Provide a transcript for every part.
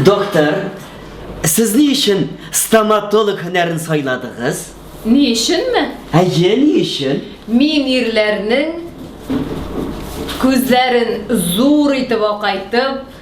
Доктор, сез ни өчен стоматолог һөнәрен сайладыгыз? Ни өченме? Әйе, ни өчен? Мин ирләрнең күзләрен зур итеп акайтып,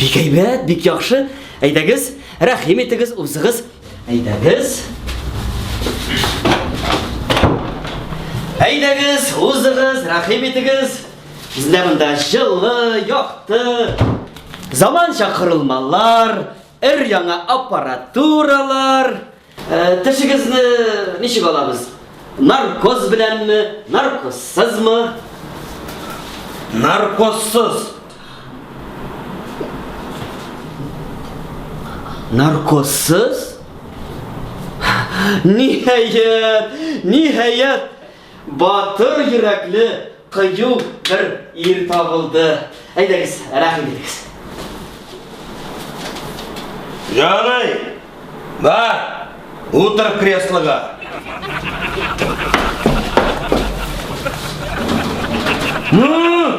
Бик әйбәт, бик яхшы. Әйдәгез, рәхим итегез, узыгыз. Әйдәгез. Әйдәгез, узыгыз, рәхим итегез. Бездә монда җылы, якты, заманча корылмалар, өр-яңа аппаратуралар. Тешегезне ничек алабыз? Наркоз беләнме, наркозсызмы? Наркозсыз. Наркозсыз? Ниһаять, ниһаять! Батыр йөрәкле, кыю бер ир табылды. Әйдәгез, рәхим итегез. Ярый. Бар. Утыр креслога. Ну!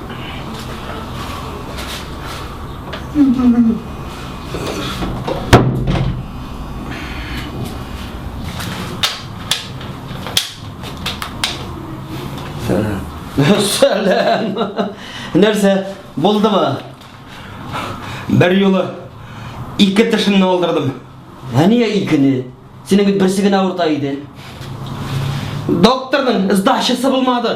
Сәләм. Нәрсә, булдымы? Бер юлы ике тешемне алдырдым. Ә нигә икене? Синең бит берсе генә авырта иде. Докторның сдачасы булмады.